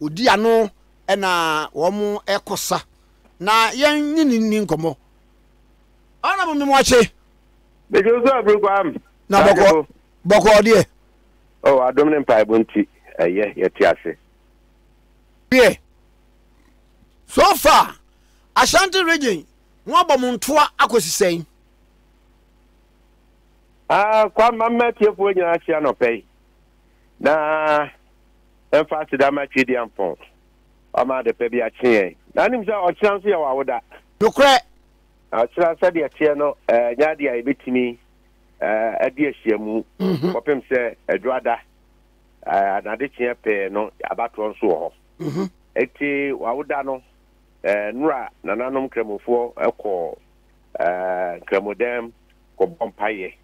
odi ano na wɔkɔsa na yɛnye no nni nkɔmmɔ. Ana mo mmem akye? Mede wo so abiri kwam. Na bɔkɔ bɔkɔ ɔdeɛ. O oh, adom ne mpaebɔ nti ɛyɛ yɛte ase. Deɛ so far Ashanti region mo abɔ mo ntoa akɔsi sɛn? Ah, kwam mamma atiefoɔ nyinaa ahyia nɔpɛ yi na mfa aseda mma Tweduampɔn. Wama ade pa bi akye yɛn. Na wonim sɛ ɔkyena nso yɛ w'awoda. Nokorɛ. Na ɔkyena sɛdeɛ ɛteɛ no, ɛnyɛ adeɛ a yɛbɛtumi adi ahyiamu kɔpem sɛ Adwada anaa adekyeɛ pɛɛ no abatoɔ nso wɔ hɔ. Enti w'awoda no, nnora nananom Nkramofoɔ kɔ Nkramodan mu kɔbɔ mpaeɛ.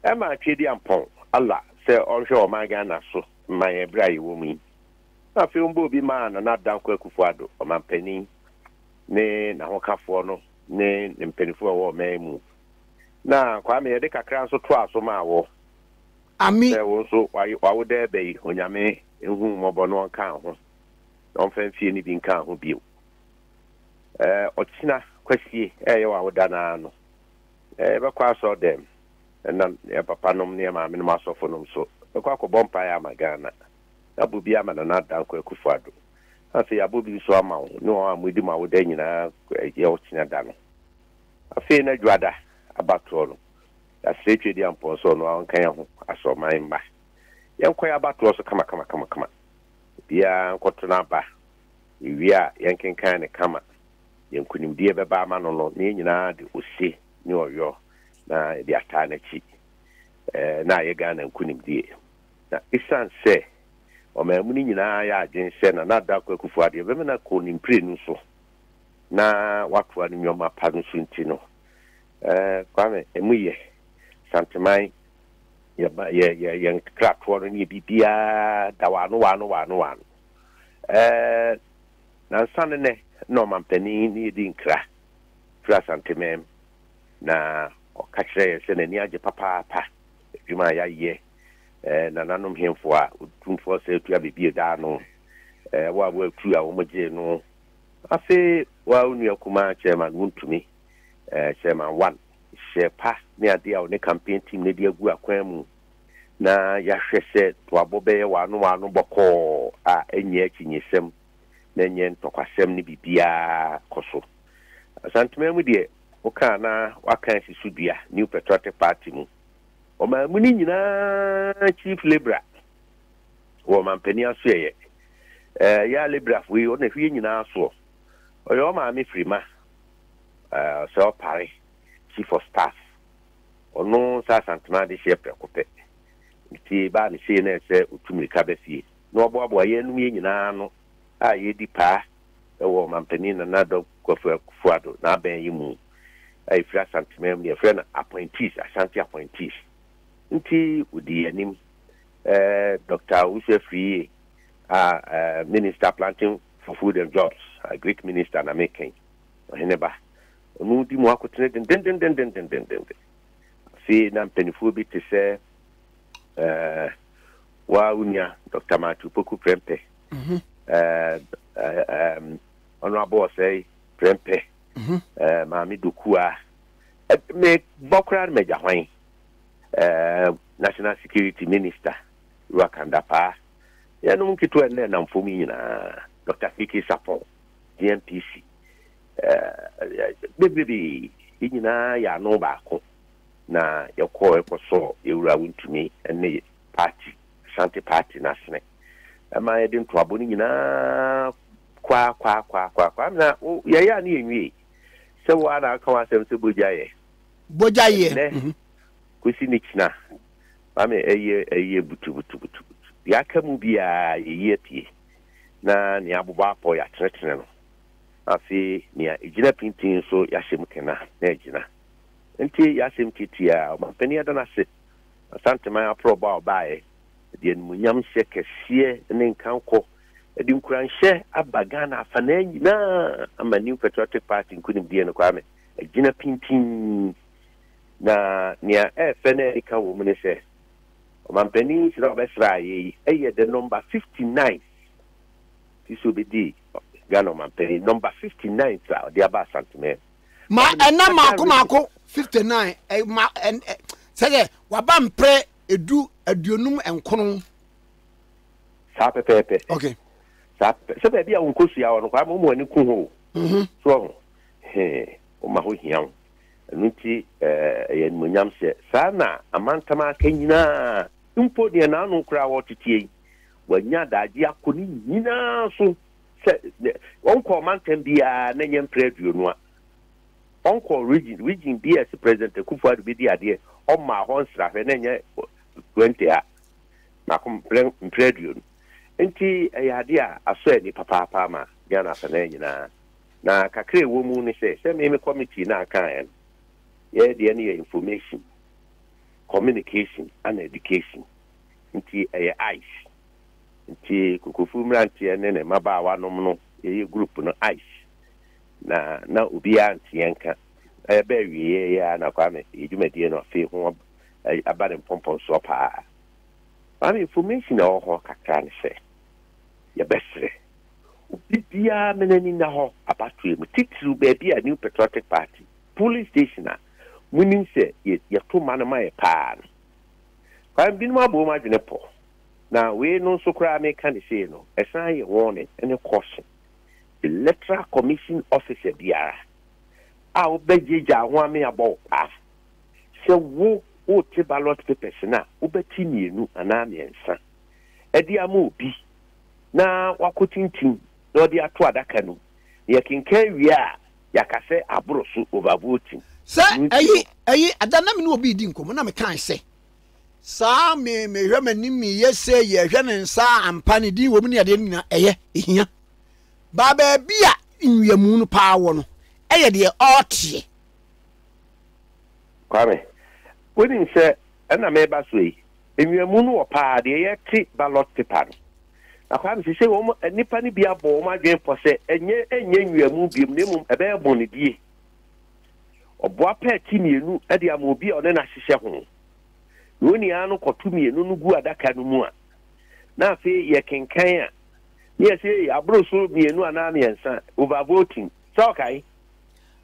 ɛma Tweaduampɔn Allah sɛ ɔnhwɛ ɔman Ghana so mma yɛn berɛ a yɛwɔ mu yi. Na afei wɔbɔɔ bi maa Nana Dankwa Akufo-Addo, ɔmanpanin, ne n'ahokafoɔ no ne ne mpanimfoɔ a wɔwɔ ɔman mu. Na Kwame yɛde kakra nso toaa so maa wo Ami. sɛ wo nso w'aye w'awoda ɛbɛ yi Onyame nhu wo mmɔbɔ na ɔnkaa ho na ɔmfa mfie no bi nkaa ho bio. Ɛɛ ɔkyena Kwasie ɛɛyɛ w'awoda no ara no Yɛbɛkɔ asɔɔdɛm na yɛn papa nom ne yɛn maame nom asɔfo nom nso bɛkɔ akɔbɔ mpaeɛ ama Ghana. Yɛabɔ bi ama Nana Dankwa Akufo Addo. Afei yɛabɔ bi nso ama wo ne wɔn a moadi mo awoda nyinaa yɛ wo kyena da no. Afei na Dwoada abatoɔ no, yɛasrɛ Twedia Mpɔn sɛ ɔno ara ɔnka yɛn ho asorɔman mma. Yɛnkɔ yɛn abatoɔ so kamakamakama. Obiara nkɔto n'aba. Yɛwie a, yɛnkenkan no kama. yɛn nkonimdie bɛba ama no no, na yɛn nyinaa de ose ne ɔyɔ na yɛde ataa n'akyi. Ɛɛ, na ayɛ Ghana nkonimdie. Na esiane sɛ ɔmaamuni nyinaa ayɛ adwene sɛ Nana Daakwa Akufo-Addo yɛbɛmena kɔ ne mprenu so na watoa ne nneɛma pa no so nti no, ɛɛ, Kwame, emu yɛ, Santeman, yɛba, yɛ, yɛ, yɛn kratoɔ no ne yɛ biribiara da wɔ ano, wɔ ano, wɔ ano, wɔ ano. Ɛɛ. Nansa ne nnɛ na ɔmanpanin ne yɛ di nkra firi Asanteman na ɔka kyerɛ yɛn sɛ n'ani agye papaapa adwuma a yɛayɛ eh, nananom hemfo a otumfoɔ sɛ atua bebie daa no eh, wo a woatu a wɔn gyee no afe wo a onua kuma chairman wontumi eh, chairman one hyɛ pa ne adeɛ a ɔne campaign team no de agu akwan mu na yɛahwɛ sɛ toabɔ bɛyɛ w'ano w'ano bɔkɔɔ a ɛnyɛ akyinnyesɛm na ɛnyɛ ntɔkwasɛm ne biribiara kɔ so. Asantema mu deɛ, woka a na woaka asi so dua, New Patriotic Party mu. Ɔman mu no nyinaa Chief Libra wɔ ɔmampanin asoɛeɛ. Eh, yɛ a Librafo yi, ɔna hwie nyinaa soɔ. Ɔyɛ ɔmaame firima, eh, sɛ ɔpare Chief of Staff. Ɔno sɛ Asantmaa dehyeɛ prɛko pɛ. Ne fie baa ne hyee na ɛsɛ ɔtu mirika ba fie na ɔboaboa yɛnom yɛ nyinaa ano a yɛredi paa wɔ Ɔmanpanin Nana Addo Kwafu Akufo-Addo n'abɛn yi mu a ɛfiri Asantmaa mu, deɛ yɛfrɛ no Appointees, Ashanti Appointees nti ɔdii yɛn anim. Eh, Doctor Owusu Afriyie a eh, Minister Planting for Food and Jobs, Agric Minister na meka yi, Ɔhene ba. Ɔno redi mu akotene dendendendendendenden. Afei na mpanimfoɔ bi te sɛ ɛɛ waa wo nua Dr. Matthew Poku Prempeh, mhm. ɛɛ ɛɛ ɔno abɔ ɔsɛe Prempeh, mhm. ɛɛ Maame Dokua, me bɔ koraa no magya hwan ɛɛ National Security Minister Ruwa Kandapaa, yɛnom nketewa nnɛ nam fam nyinaa Dr. Kiki Sapon, DNPC. bebree, yɛn nyinaa yɛ ano baako na yɛkɔ ɛkɔ sɔ yɛwura wontumi ne party Ashanti party no asene ɛma yɛde ntoabo no nyinaa kwa kwa kwa kwa kwa na yɛyɛ a ne yɛn wie sɛ wo a na aka w'asɛm sɛ bogya yɛ bogya yɛ nɛ mhm. kosi ne kyina maame ɛyɛ ɛyɛ butu butu butu butu yɛaka mu biara yɛyi apue na ne abobɔ apɔ yɛatenetene no Afei nea egyina pintinn nso yɛahyɛ mu kena na agyina. Enti yɛn asɛm tiatia ara, Ɔmanpanin ada no ase Asanteman aporɔbɔ a ɔbaeɛ de animuonyamhyɛ kɛseɛ ne nkankɔ de nkuranhyɛ aba Ghana afanaa nyinaa ama New Patriotic Party nkunimdie no Kwame agyina pintinn na nea ɛyɛ fɛ na ɛnika wɔ mu ne sɛ Ɔmanpanin hyira a ɔbɛsraa yɛn yi yɛ the number fifty nine ti sɛ obedi Ghana ɔmanpanyin nɔmba fifty ninth a ɔde aba Asanteman. Ma ɛna mako mako fifty nine ɛ eh, ma ɛ eh, sɛ sɛ waba mpere edu aduonum nkono. Saa pɛpɛɛpɛ. Okay. Saa pɛpɛ sɛ baabi a wɔn kɔ sua wɔ no kwaa ma wɔn ani ko ho. Mhm. So ɔho hee wɔn ma ho hia ho ɛno nti eh, ɛyɛ animonyam hyɛ saa na amantam aka nyinaa mpo deɛ n'ano koraa wɔteteɛ yi wanya adaagye akɔ ne nyinaa so sɛ ɔnkɔ ɔmantam biara na nyɛ mprɛ aduonu a ɔnkɔ region region bi a ɛsɛ president akufo ado bɛdi adeɛ ɔmaa hɔ nsrahwɛ na nyɛ 20 a baako mprɛ aduonu nti ɛyɛ adeɛ a asɔ ani papaapa ama Ghana asanan nyinaa na kakra ɛwɔ mu ne sɛ sɛ me me committee no akaeɛ no yɛyɛ deɛ no yɛ information communication and education nti ɛyɛ ice. Nti Kokofu mmeranteɛ ne ne mmabaawanom no yɛyɛ group no ice na na obiara nteɛ nka. Na yɛba awieɛ yi ara na Kwame yɛ dwumadie no afei ho aba ne mpɔmpɔnsoɔ pa ara. Maame information a ɛwɔ hɔ kakra ne sɛ yɛbɛsrɛ obi biara ma n'ani nna hɔ abatoɔ mu titiriw baabi a New Patriotic Party polling station a monim sɛ yɛto ma no ma yɛ pa ara no. Kwan binom abɔ wɔn adwene pɔ, na wei no nso koraa a meka no sei no, ɛsan yɛ warning ne caution. Electoral Commission officer biara a wobɛgyaagyaa ho ame abɔ wo paa sɛ wo wote ballot papers no a, wobɛte mmienu anaa mmiɛnsa de ama obi na wakɔtintim na ɔde ato adaka no mu, na yɛkenkan wie a, Yɛaka sɛ aboro so overvoting. Sɛ ɛyi ɛyi ada na me ne obi redi nkɔmmɔ na mekae sɛ, saa me mehwɛ m'anim meyɛ sɛ yɛhwɛ ne nsa ampa ne din wɔ mu ne adeɛ no nyinaa ɛyɛ ɛhia baa baabi a nnuamu no paa wɔ no ɛyɛ deɛ ɔteɛ. Kwame, wonim sɛ ɛna meba so yi, Nwiamu no wɔ paa deɛ yɛte ballot paper no. Na Kwame sesei wɔn nnipa no bi abɔ wɔn adwene pɔ sɛ ɛnyɛ ɛnyɛ nwiamu biom na mmom ɛbɛyɛ bɔnedie. Ɔboa pɛ ti mmienu de ama obi a ɔne no ahyehyɛ ho. Na wɔn nyinaa no kɔto mmienu no gu adaka no mu a na afei yɛkenkan a ne yɛsɛ ei aboro so mmienu anaa mmiɛnsa over voting sɛ ɔkae?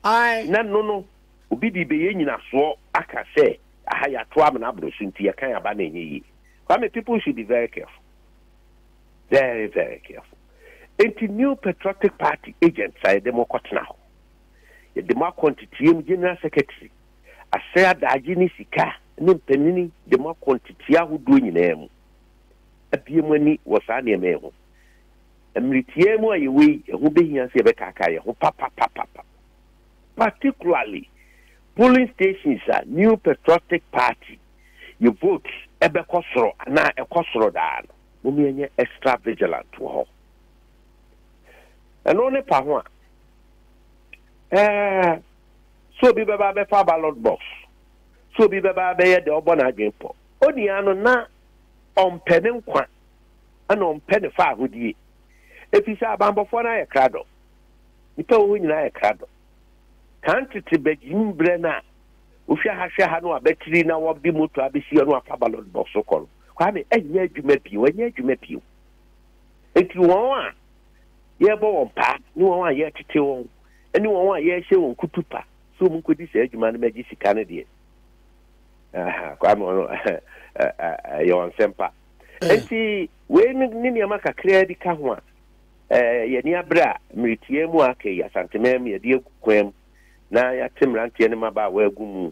Ae. Na no no obi de bɛyɛ nyinasoɔ aka sɛ. Aha yɛato amena aboro so nti yɛkan aba no ɛnyɛ yie. Kwame people should be very careful. Very very careful. Nti New Patriotic Party agents a yɛde mo kɔtena hɔ, yɛde mo akɔ nteteɛ mu General Secretary, asɛe adaagye ne sika ne mpanini de mo akɔ nteteɛ ahodoɔ nyinaa mu. Abue mo ani wɔ saa nneɛma yi ho. Mmere tiaa mu a yɛwɔ yi, ɛho bɛhia sɛ yɛbɛkaakaa yɛn ho papapapapa. particularly polling stations a New Patriotic Party yɛ votes ɛbɛkɔ soro anaa ɛkɔ soro daa no, mom yɛnyɛ extra vigilant wɔ hɔ. Ɛno ne pa ho a, ɛɛ, sɛ obi bɛba bɛfa ballot box, sɛ obi bɛba bɛyɛ deɛ ɔbɔ n'adwene pɔ, onua no na ɔmpɛ ne nkwa ɛna ɔmpɛ ne faahodie, ɛfiri sɛ abanbɔfoɔ no ayɛ kradɔ. Nnipa wɔ hɔ nyinaa yɛ krado. Kan tete bagyim berɛ no a wohwɛ ha hwɛ ha na wɔabatiri na wɔde moto abɛsi hɔ na wɔafa ballot box kɔ no, Kwame, ɛnyɛ adwuma bio, ɛnyɛ adwuma bio. Nti wɔn a yɛrebɔ wɔn paa ne wɔn a yɛretete wɔn ne wɔn a yɛrehyɛ wɔn kutupa sɛ wɔn nkɔdi saa adwuma no mɛgye sika no deɛ kwame ɔno ɛyɛ wɔn nsɛmpa nti wei ne nneɛma kakraa bi ka ho a Eh, ɛyɛ ani abere a meretia mu a aka yi, Asanteman mu yɛde agu kwan mu na yɛate mmeranteɛ ne mmabaawa agu mu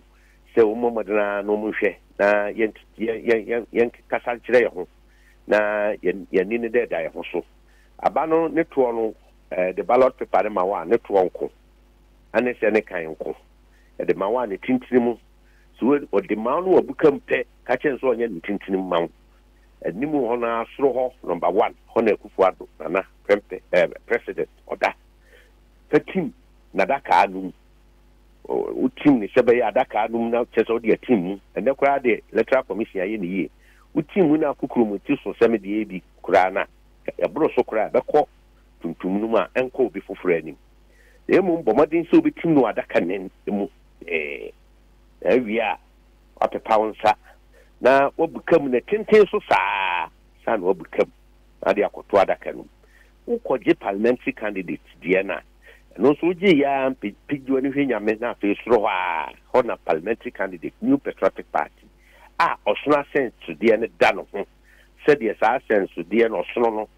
sɛ wɔmmɔ mmɔden ara na wɔnhwɛ na yɛn yɛn yɛn yɛn yɛn kasa nkyerɛ yɛn ho na yɛn yɛn ani ne dɛ da yɛn ho so. Aba no ne toɔ no, eh, de ballot paper no ma wo a ne toɔ nko, ane sɛ ne kan nko. Ɛde ma wo a ne tintini mu, sɛ wo- ɔde ma wo no wɔ buka mu pɛ, ka kyerɛ no sɛ ɔnyɛ ne tintini mu ma wo, anim hɔ no ara soro hɔ number one hɔ na Akufo Addo Nana prɛmpɛ ɛɛ president ɔda. Fa tim n'adakaa no mu. Wo tim no sɛ bɛyɛ adakaa no mu na kyerɛ sɛ wode atim mu. Ɛnɛ koraa deɛ electoral commission ayɛ no yie. Wo tim mu na akokoro mu ti so sɛ me deɛ ebi koraa no a ɛboro so koraa a ɛbɛkɔ tuntum no mu a ɛnkɔ obi foforɔ anim. Na mmom bɔ mmɔden sɛ wobɛtim no wɔ adaka no mu pɛɛ. Na awie a Wapepa wo nsa na wabuka mu, na tenten so saa saa na wabuka mu na ade akɔto adaka no mu. Wokɔgye parliamentary candidate deɛ no a, ɛno nso wogye yɛ ara mpe pigye w'ani hwɛ Nyame na afei soro hɔ ara hɔ na parliamentary candidate New Patriotic Party a ɔsono asɛnsodeɛ no da no ho sɛdeɛ saa asɛnsodeɛ no ɔsono no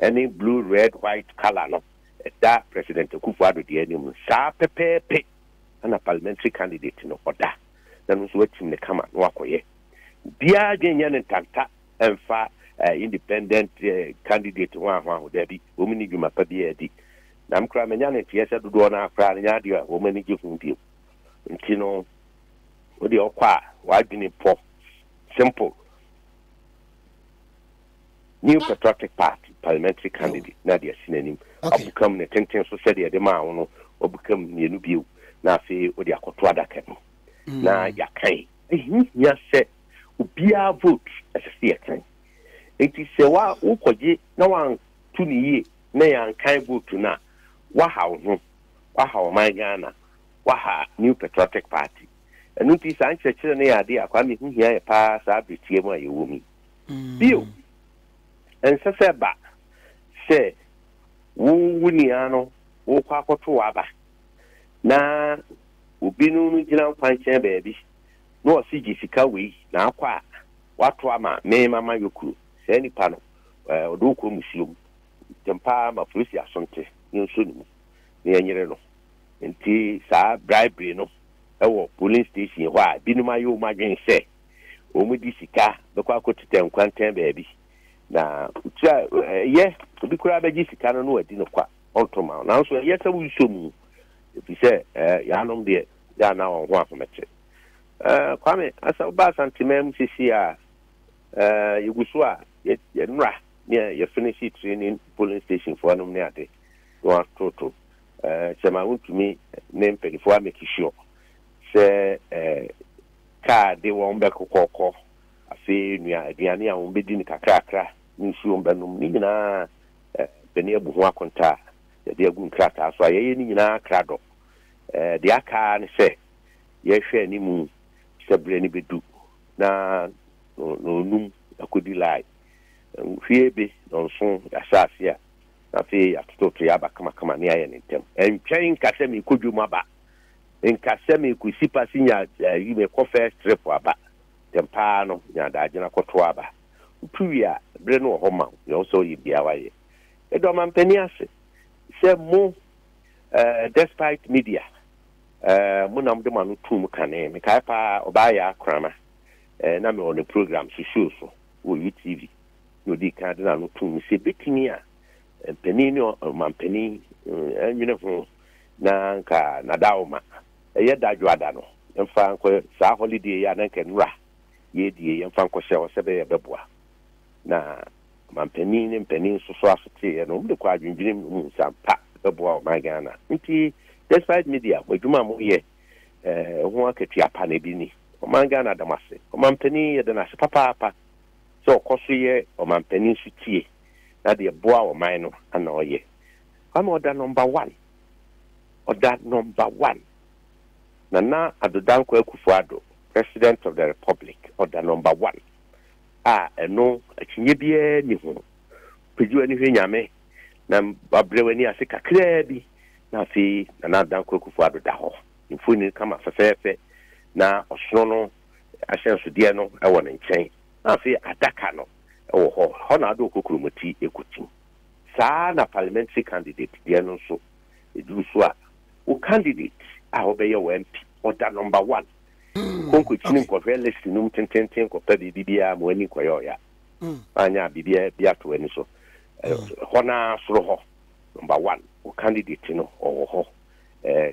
ne blue red white colour no ɛda President Akufo-Addo deɛ anim no saa pɛpɛɛpe na parliamentary candidate no ɔda. na no nso watim no kama na wakɔyɛ. Biaa dwen nyɛ no ntanta mfa independent candidate ho ahoaho daabi, wɔn nni dwuma pa biaa di. Na me koraa manya no nteɛ sɛ dodoɔ no ara koraa no nyɛ adeɛ a wɔn ani gye ho bio. Nti no wodeɛ wokɔ a w'adwene pɔ, simple. New Patriotic Party parliamentary candidate na de asi n'anim abukam ne tenten so sɛdeɛ ɛde maa wo no wabukam mmienu bio na afei wode akɔto adaka mu mm. na yɛakan ɛhiahia sɛ obiara vote ɛsɛ sɛ yɛkan nti sɛ wa wokɔgye na wanto ne yie na yɛankan vote no a waha wo ho waha ɔman ghana waha new patriotic party ɛno nti saa nkyerɛkyerɛ no yɛ adeɛ akwaa mehu hia yɛ paa saa berɛtiɛ mu a yɛwɔ mu Bio, ɛnsɛ sɛ ɛba sɛ wo wo nua no worekɔ akɔto w'aba na obi no no gyina nkwankyɛn baabi na ɔse gye sika wei na akɔ a wato ama me mama yɔkunu. Saa nipa no eh, ɔde wo kɔ musuo mu. Ntɛm paa ma polisi asonte no nso ne mu na yɛnyere no. Nti saa bribery no wɔ polling station hɔ a binom ayɛ wɔn adwene sɛ wɔde sika bɛkɔ akɔtetɛ nkwantan baabi, na tiri a ɛyɛ obi koraa bɛgye sika no na wadi no kwa, ɔnto ma wo. Nanso ɛyɛ sɛ wonsɔ mu, ɛfiri sɛ yɛanom deɛ yɛ a na wɔn ho ahomete. Kwame, asa wobaa Asanteman mu sisi a yɛgu so a yɛnora ne yɛfinihye training polling station foɔ nom ne ade na wɔatoto sɛ ma wontumi ne mpanimfoɔ amɛkishiɔ sɛ kaa de wɔn bɛkokɔkɔ. Afei nua aduane a wɔbɛdi no kakrakra ne nsuo wɔbɛnom. Ne nyinaa bɛne abu ho akontaa a yɛde agu nkrataa so a yɛyɛ ne nyinaa krado. Deɛ aka ara ne sɛ yɛhwɛ anim sɛ berɛ no bɛdu na ɔnum akɔdi lae. Hwie be na ɔnso yɛahyɛ aseɛ a na afei yɛatototo yɛaba kamakama na yɛayɛ no ntɛm. Ɛntwɛn nka sɛ merekɔ dwam aba Nka sɛ meko si pa si nya ayi me kɔ first trip aba ntɛm paa no nya adaagyena kɔ to aba wotu wie a bere no wɔ hɔ ma wo nea wo sɛ ɔyɛ biaa wayɛ meda ɔmampanin ase sɛ mo eh despite media eh mo na mo de mo ano tuu mo kane me kae paa ɔbaa yaa krama eh na me wɔ ne program so show so wɔ UTV na odi kan de na ano tuu me sɛ betumi a mpanin ne ɔmampanin eh nwene ho na anka Nadaoma, ɛyɛ Dadwoada no, yɛmfa nkɔ saa holiday yi a na anka nnura yɛredie yɛmfa nkɔhyɛ hɔ sɛ ɛbɛyɛ ɛbɛboa. Na Manpanin ne mpanin nso so asoteeɛ no, wɔde kɔ adwendwenem no mu sɛ ampa ɛbɛboa ɔman Ghana. Nti Despite Media, mo adwuma a moyɛ eh, ho akatua pa na ɛde ni. Ɔman Ghana da mo ase. Ɔmanpanin yɛda no ase papaapa sɛ ɔkɔ so yɛ ɔmanpanin so tie na deɛ ɛboa ɔman no ana ɔyɛ. Kwame ɔda number one ɔda number one Nana Addo Dankwa Akufo Addo president of the republic ɔda number one a ɛno akyinnye biara nni ho Pagye w'ani hwɛ Nyame na wabrɛ w'ani ase kakraa bi na afei Nana Addo Dankwa Akufo Addo da hɔ mfoni kama fɛfɛɛfɛ na ɔsono no ahyɛnsodeɛ no wɔ ne nkyɛn na afei adaka no wɔ hɔ hɔ na ɔde ɔkokuromoti kɔtim. Saa ara na parliamentary candidate deɛ no nso, ɛduru so a, wo candidate a ɔbɛyɛ wo MP, ɔda number one. Kɔ nkɔkyini nkɔhwɛ list no mu tententen kɔpɛ baabi biara ma w'ani nkɔyɛ ɔya. Anyɛ a, biribi bi ato w'ani so. Hɔ no ara soro hɔ, number one, wo candidate no, ɔwɔ hɔ.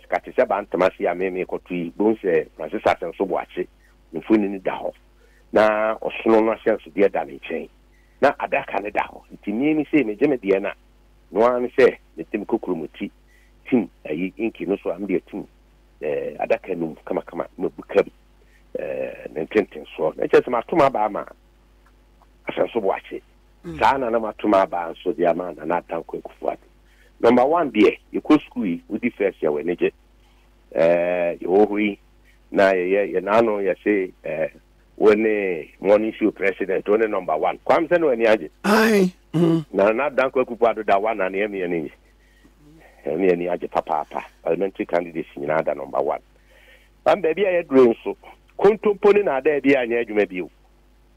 Ka te sɛ Bantamasi a me mekɔto yi, bohu sɛ Francis Asɛnso Boakye mfonini da hɔ, na ɔsono no ahyɛnsodeɛ da ne nkyɛn. na adaka no da hɔ. Nti me no sei megye me deɛ no a, no ara ne sɛ mede me kokuromoti tim ayi inki no so a, mede atim eh, adaka no mu kamakama na mabuka bi eh, ne ntentensoɔ. Na kyerɛ sɛ mato m'aba ama Asanso Boakye. Mm. Saa na na mato m'aba nso de ama Nana Adanko Akufo-Addo. Number one deɛ, yɛkɔ sukuu yi, wodi first yɛwɔ anigye. Eh, yɛwɔ hɔ yi, na yɛyɛ yɛn ano yɛse eh, Wo ne morning show president, wo ne number one. Kwam sɛ na w'ani agye. Ae. Mm. Na na Danko Akupo Addo da one anea mi ani nye. Ɛne ani agye papaapa. Parliamentary candidates nyinaa da number one. Bam baabi a yɛdure nso, kontompo ne na ada bi a nyɛ adwuma bio.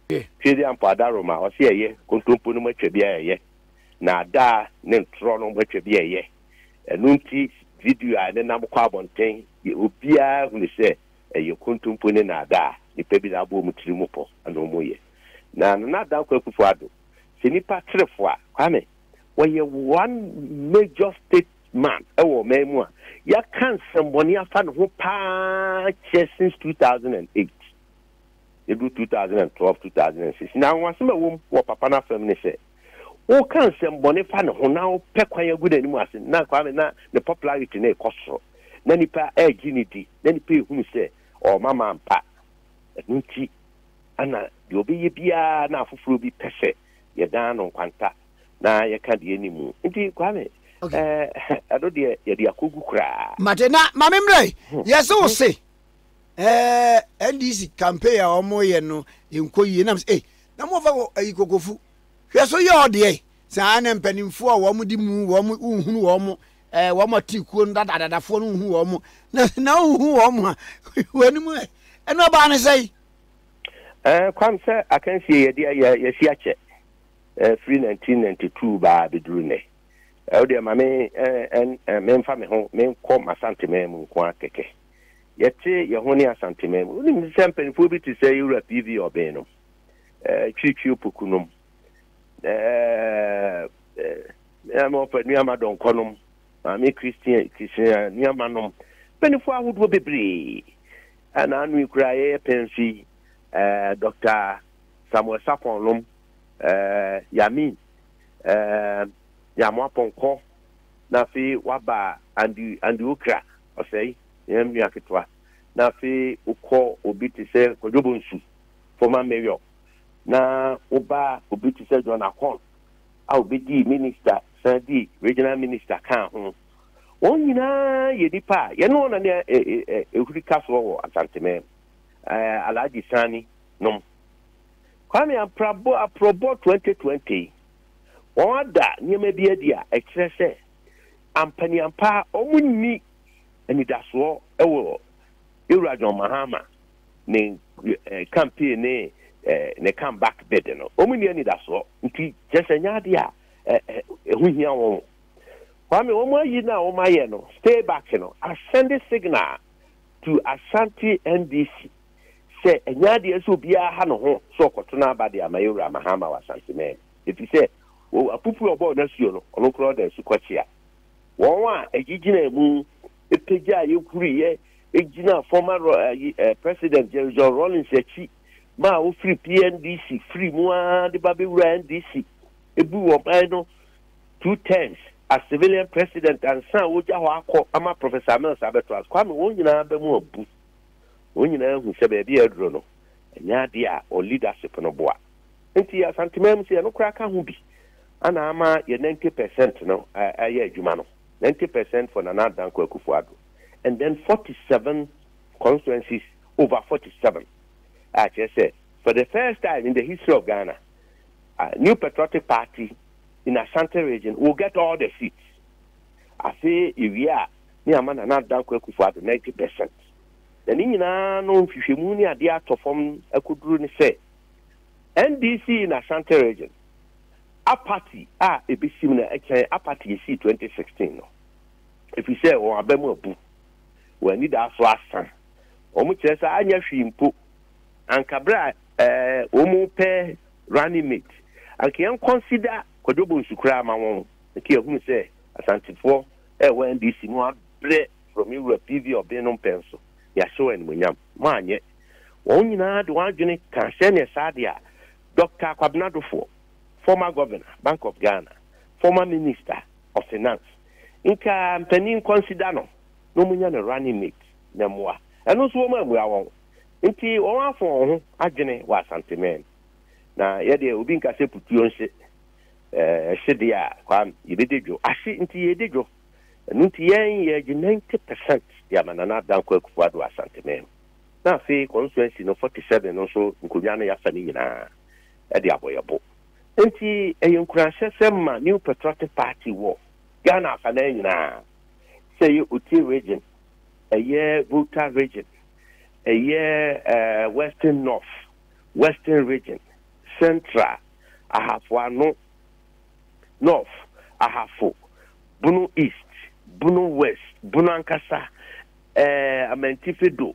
Twedi ampo adaro ma ɔse ɛyɛ kontompo no mu atwa bi a ɛyɛ. Na ada ne ntorɔ no mu atwa bi a ɛyɛ. Ɛno nti video a ɛnenam kɔ abɔnten obiara hunu sɛ ɛyɛ kontompo ne naadaa a nnipa bi de abɔ wɔn tiri mu pɔ na wɔyɛ. Na Nana Dankwa Akufo-Addo, sɛ nnipa kyere fo a, Kwame, ɔyɛ one major state man wɔ ɔman mu a yɛaka nsɛmmɔne afa ne ho pa ara kyerɛ since 2008. Yɛduru 2012, 2006. Na anwanwasɛm a ɛwɔ mu wɔ papa no afam ne sɛ, woka nsɛmbɔne fa ne ho na wopɛ kwan agu n'anim ase na Kwame na ne popularity no rekɔ soro na nipa ɛregye ne di na nipa ehunu sɛ ɔma ma mpa ɛno nti ana deɛ ɔbɛyɛ biara na afoforɔ bi pɛ sɛ yɛdan no nkwanta na yɛka deɛ ne mu nti Kwame ɛno deɛ yɛde akɔgu koraa. Mate na maame mmerɛ hmm. yɛse wo hmm. se ɛɛ ndc campaign a wɔyɛ no nkɔ yie nam sɛ ei na mofa ayi kokofu hwɛ so yɛ ɔdeɛ saa na mpanimfoɔ a wɔn di mu wɔn nhunu wɔn ɛɛ wɔn ati kuo no dadadadafoɔ no nhunu wɔn na na nhunu wɔn a wɔn anim ɛ ɛno ɔbaa ne sɛ yi. ɛɛ kwam sɛ akansie yɛde yɛ yɛsi akyɛ ɛɛ firi 1992 baa abɛduru nnɛ ɛwɔ deɛ ma me ɛɛ ɛn ɛɛ memfa me ho menkɔ masantema mu nko ara kɛkɛ. yɛte yɛn ho ne Asanteman mu. Wonim sɛ mpanimfoɔ bi te sɛ Yewura PV Ɔben nom, eh, Twitwi Opoku nom, eh, eh, ɔfa Nuama Dɔnkɔ nom, Maame Christian Christian Nuama nom, mpanimfoɔ ahodoɔ bebree. Ɛna ano yi koraa yɛyɛ pɛn so yi, eh, Dr. Samuel Sapon nom, eh, Yamin, eh, Yamoa Pɔnkɔ, na afei waba Andy Andy Okra. ɔsɛe yɛn nua ketewa, na afei wokɔ obi te sɛ Kwadwo Bonsu, former mayor, na woba obi te sɛ John Akon a obedii minister san dii regional minister kaa ho. Wɔn nyinaa yɛ nipa a yɛne wɔn na ne ehuri ka soɔ wɔ Asantemɛm. Alhaji Sani nom. Kwame Aprabo Aprɔbɔ 2020 wɔn ada nneɛma bi adi a ɛkyerɛ sɛ Ampaneampa wɔn nni anidasoɔ wɔ Ewura John Mahama ne campaign ne ne come back bid no. Wɔn nni anidasoɔ nti kyerɛ sɛ nyɛ adeɛ a ɛho hia wɔn. Kwame wɔn ayi no a wɔn ayɛ no stay back no asɛnde signal to Ashanti NDC sɛ ɛnyɛ adeɛ sɛ obiara ha ne ho sɛ ɔkɔto n'aba de ama Ewura Mahama wɔ Ashanti man mu. efisɛ wɔn apupuru a wɔbɔɔ no asu no, ɔno koraa ɔda asu kɔkyea. Wɔn a egyigyenaa mu pagyaa yɛn huriiɛ gyinaa former Ro- eh, yi, eh, President Jerry John Rawlings akyi ma a wofiri PNDC firi mu ara de ba bɛwura NDC ebu wɔn ban no two terms as civilian president ansa a wogya hɔ akɔ ama Professor Amels abɛto ase. Kwame, wɔn nyinaa bɛ mu abu. Wɔn nyinaa hu sɛ baabi a aduro no, ɛnyɛ adeɛ a wɔn leadership no boa. Enti Asanteman mu sɛ yɛno koraa ka ho bi na ama yɛ ninety percent no ayɛ adwuma no, ninety percent for Nana Dankwa Akufo-Addo and then forty seven constituencies over forty seven a kyerɛ sɛ for the first time in the history of Ghana uh, New Patriotic Party in Asante region will get all the seats. Afei yɛwie a ne ama Nana Dankwa Akufo-Addo ninety percent. Na ne nyinaa no nhwehwɛmu ne adeɛ atɔ fam akɔduru ne sɛ NDC in Ashanti Region, Apathy a ebesim no kyɛn apathy a esii twenty sixteen no, efisɛ wɔn aba mu abu, wɔn anidaso asa. Wɔkyerɛ sɛ anyɛ hwee mpo, anka bere a wɔrepɛ running mate, anka yɛnkɔnsida Kwadwo Bonsu koraa mma wɔn, anka yɛahunu sɛ Asantefoɔ a ɛwɔ NDC no abrɛ from me wura PV Obeng no mpɛn so, yɛahyɛ wɔn animuonyam. Moanyɛ. Wɔn nyinaa de wɔn adwene kaa sɛdeɛ saa deɛ a Dɔkta Kwabena Dofoɔ, former Governor, Bank of Ghana, former Minister of Finance, nka mpanin Nkwasi da no na wɔnyɛ no running mate na mmoa. Ɛno nso wɔammua wɔn. Nti wɔn afo wɔn ho adwene wɔ Asanteman. Na yɛ deɛ obi nka sɛ putuo nhye ɛhye deɛ a Kwame yɛbɛdi dwo. Ahye nti yɛredi dwo. Ɛno nti yɛn yɛagye 90 percent de ama Nana Dankwa Akufo-Addo wɔ Asanteman mu. na afei constituency no forty seven no nso nkonnwa no yɛasa ne nyinaa de abɔ yɛn bo. Enti ɛyɛ nkuranhyɛsɛm ma New Patriotic Party wɔ Ghana afanan nyinaa, sɛ ɛyɛ Oti Region, ɛyɛ Volta Region, ɛyɛ Western North, Western Region, Central, Ahafo Ano, North, Ahafo, Bono East, Bono West, Bono ankasa, eh, Amantifi do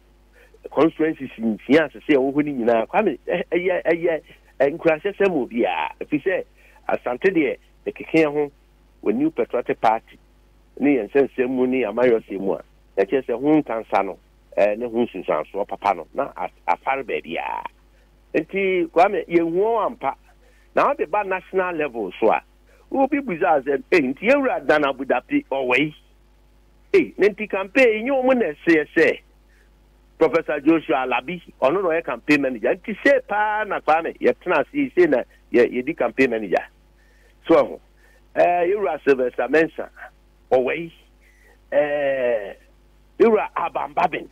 constituencies nsia asese a wɔwɔ hɔ no nyinaa kwame ɛyɛ eh, ɛyɛ eh, eh, nkurahyɛ sɛ mu biara ɛfiri sɛ asante deɛ ɛkeke ho wɔ new patriotic party ne yɛn nsɛnsɛm mu ne amayɔsɛ mu a na kyerɛ sɛ ho ntansa no ɛɛ ne ho nsunsuansoɔ papa no na afare baabiara nti kwame yɛnhuo ampa na ɔde ba national level so a wobi busa sɛ eh, nti yɛwura dan abudapi ɔwɔ yi Ei, na nti campaign yi nyɛ wɔn na ɛseɛ sɛ Professor Joshua Alabi, ɔno na ɔyɛ campaign manager. Nti sei paa na Kwame yɛtena ase yi, sei na yɛdi campaign manager. So ahu, eh, yɛwura Sylvester Mensah, ɔwɛi, eh, yɛwura Alban Babin,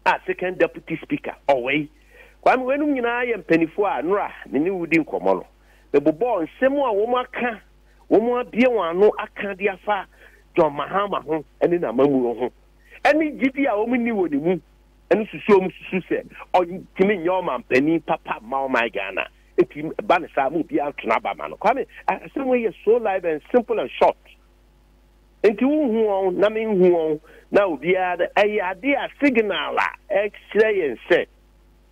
a second deputy speaker, ɔwɛi. Kwame, wɔnom nyinaa yɛ mpanifo a Nora ne ne wudi nkɔmmɔ no, mebobɔɔ nsɛm a wɔn aka wɔabue wɔn ano aka de afa John Mahama ho ne n'amammuo ho ne gyidie a wɔnni wɔ ne mu no susu wɔn susu sɛ ɔntumi nyɛ ɔmampanin papa mma ɔman Ghana. Enti ɛba no saa ma obiara to n'aba ma no. Kwame, asɛm wei yɛ so live and simple and short. Enti wonhu wɔn na menhu wɔn na obiara ɛyɛ adeɛ a signal a ɛkyerɛ yɛn sɛ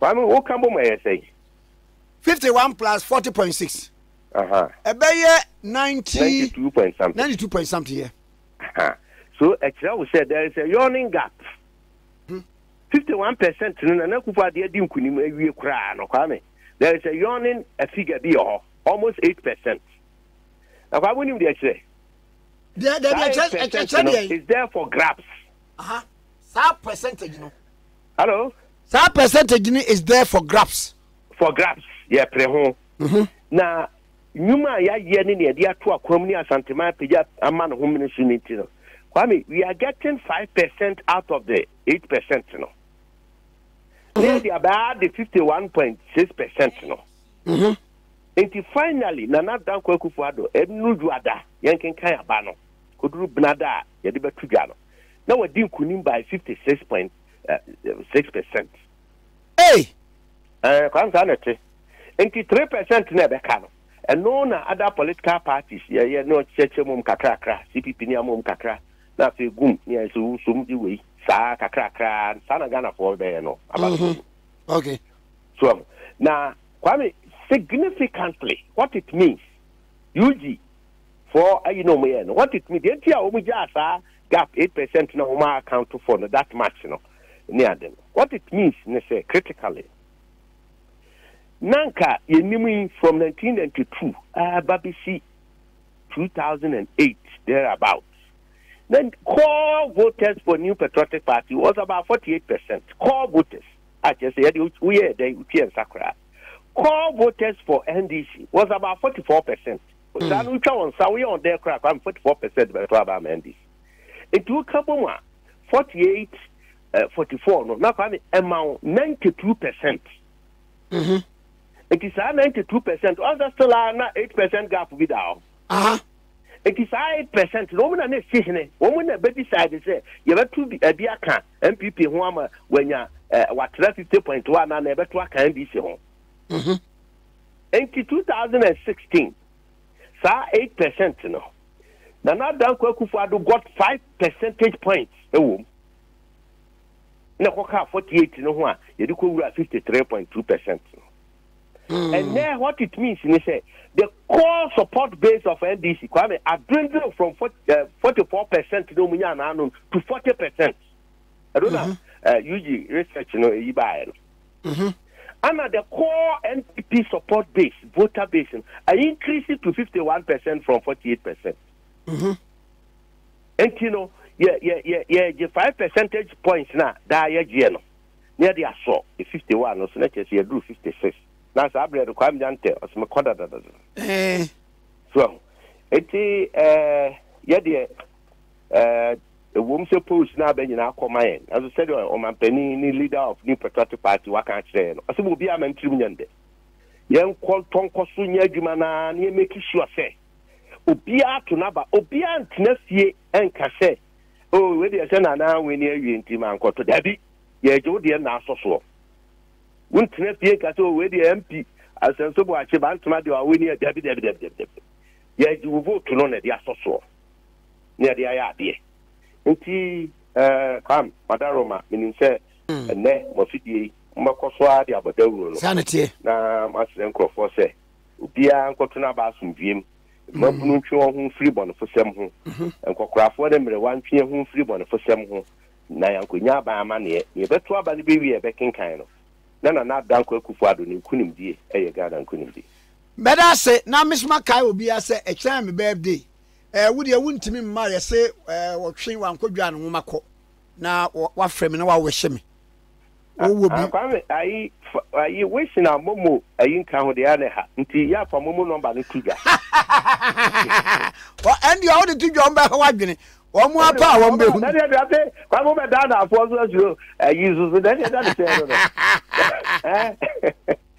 Maame wo ka bom ɛyɛ sɛn? Fifty one plus forty point six. Ɛbɛyɛ ninety. Ninety two point something. Ninety two point something yɛ. So ɛkyerɛ wo sɛ there is a yawning gap. Hmm. Fifty one percent no na na kufu adeɛ di nkunim awie koraa no kwame. There is a yawning a figure bi wɔ hɔ almost eight percent. Na kwame nim deɛ kyerɛ. Deɛ deɛ deɛ kyerɛ kyerɛ deɛ. Is there for grabs. Aha saa percentage no. Hello. Saa percentage ni is there for grabs. For grabs yɛ pere ho. Mhm. Na nnwuma a yɛayɛ ne nea yɛde ato akwam ne asanteman apagya ama no ho mene so no nti no kwame we are getting five percent out of the eight percent no na mhm. yɛde abaa de fifty one point six percent no mhm. nti finally nana dankwa akufo ado ɛnu dwada yɛnkenkan aba no koduru benada a yɛde bɛto dwa no, na wadi nkunim by fifty six point six percent. Hey! Ɛɛ kwan saa na ɛte. Nti three percent na ɛbɛka no, ɛno na other political parties yɛyɛ na ɔkyerɛkyerɛ mu kakrakra, CPP ne amom kakra, na afei gum ne ayɛ sɛ wosom de wei saa kakrakra, saa na Ghanafoɔ bɛyɛ no aba no. Mhm. Okay. So um, na Kwame, significantly, what it means, UG, foɔ ayi na wɔn yɛ no what it mean deɛ nti a wɔn gyaa saa gap eight percent na wɔn a account for no that much no ne ade no what it means ne sɛ critically na nka yɛn nim yi from nineteen ninety two ɛɛba bi si two thousand and eight there about na core voters for new patriotic party was about forty eight percent core voters a kyerɛ sɛ yɛde woyɛ dɛ wotua nsa koraa core voters for ndc was about forty four percent Osaa no wotwa wɔn sa woyɛ wɔn dɛɛ koraa kwame forty four percent bɛto aba ama NDC nti woka bɔ mu a forty eight eh, forty four no na kwame ɛma wo ninety two percent. Mhm. Nti saa ninety two percent ɔnsɛ still a na eight percent gap bi da hɔ. Aha. Nti saa eight percent na wɔn na na esi hene wɔn na bɛ decide sɛ yɛbɛto bi ɛbi aka NPP ho ama wanya ɛɛ eh, wakyerɛ fifty point one na na yɛbɛto aka NDC ho. Mhm. Enti 2016, saa eight percent no, Nana Addo Dankwa Akufo-Addo got five percentage points wɔ mu, na ɛkɔkaa forty eight no ho a yɛde kɔwura fifty three point two percent no. Hmm. And then what it means ni sɛ the core support base of NDC Kwame adwendwen from eh, forty four percent na ɔmu nya n'ano to forty percent. ɛno na UG research no ɛyi baeɛ no. Ana the core NPP support base, voter base no, I increase it to 51 percent from 48 percent. Nti no, yɛ yɛ yɛ yɛgye five percentage points na daa yɛgyeɛ no na yɛde asɔ e fifty one no so na kyerɛ sɛ yɛduru fifty six na saa berɛ no kwam nyantɛ ɔsɛ mekɔ dadadada eh. so ɛho nti eh, yɛdeɛ eh, Ɛwom sɛ Paul sina aba nyinaa akɔ ma yɛn, nanso sɛdeɛ ɔmanpanin ne leader of New Patriotic Party waka akyerɛ yɛn no, ɔse ma obiara mma ne tirim nyɛ no dɛ. Yɛnkɔ ntɔ nkɔ so nyɛ adwuma no ara na yɛ make sure sɛ obiara ato n'aba. Obiara ntena fie nka sɛ, Oh, wei deɛ sɛ Nana anwene awie nti mankɔto. Dabi, yɛregye wo deɛ nna asɔ soɔ. Wontena fie nka sɛ, Oh, wei deɛ MP Asɛnso Boakye Bantama deɛ wawene a. Dabi, dabi, dabi, dabi, dabi. Yɛregye wo vote no na ɛde asɔ soɔ. ne yɛde ayɛ adeɛ nti ɛɛ kwam madaroma menim sɛ hmm. ɛnɛ mo afidie yi mobɛkɔ so ara de abɔ dawuro no na moasrɛ nkurɔfoɔ sɛ obiara nkɔto no aba asomdwuem mmabunu hmm. ntwe wɔn ho mfiri bɔnefosɛm ho mhm. nkɔkorafoɔ ne mmerewa ntwe ho mfiri bɔnefosɛm ho na yɛankɔnya aban amanneɛ na yɛbɛto aba no bɛwie a yɛbɛkenkan no na nana adanko akufo ado ne nkonimdie ɛyɛ ghana nkonimdie Mɛda ase na me so makae obiara sɛ ɛkyena yɛ me birthday. Ɛɛ, wo deɛ wontumi mma yɛse ɛɛ wɔtwe Wankodwo a ne nwoma kɔ na wafrɛ me na wawehye me. Wowɔ bi? Ah, Kwame, ayi, ayi, wish na momo ayi nka ho deɛ ne ha. Nti yɛ afa momo nɔmba no to dwa. Wɔ ɛn deɛ wode to dwa wɔn bɛha wadwene. Wɔn a pɛ a wɔn bɛhu. Ɛne ɛde ate Kwame bɛ daa na afoɔ so asuro ayi nso so. Ɛne ɛda ne sɛ no no.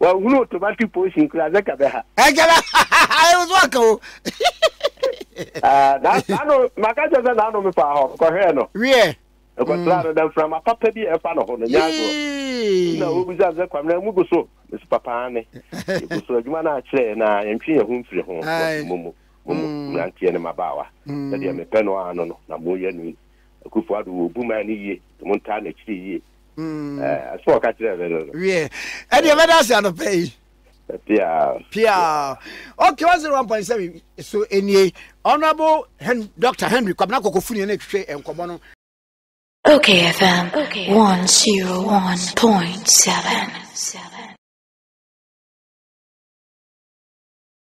Wahunu automatic portion kura sɛ ka bɛ ha. Ɛkyɛlɛ ɛyɛ nso aka o. Ɛɛ n'ano maka kyerɛ sɛ n'ano mi fa hɔ kɔhwɛɛ no. Wiɛ. Ɛkɔtraa no na mframa papa bi a ɛfa no ho no nyaa agorɔ. Ɛna ɔbisa sɛ Kwame na mu gu so? Mesi papa aane. Yɛgu so adwuma no akyerɛ na yɛntwe yɛn ho mfiri ho wɔ fi mu mu. Mo mu mmeranteɛ ne mmabaawa sɛdeɛ mepɛ no ara no no na moyɛ no yi. Akufo-Addo wɔ obuman no yie nti montaa n'akyiri yie. so ɔka kyerɛ me no no wiɛ ɛde ɛbɛda ase anɔpɛ yi pia pia ok 101.7 so ɛnie honorable Hen dr henry kwabena kɔkɔfuni ɛna ɛtwitwe nkɔmmɔ no Okay FM 101.7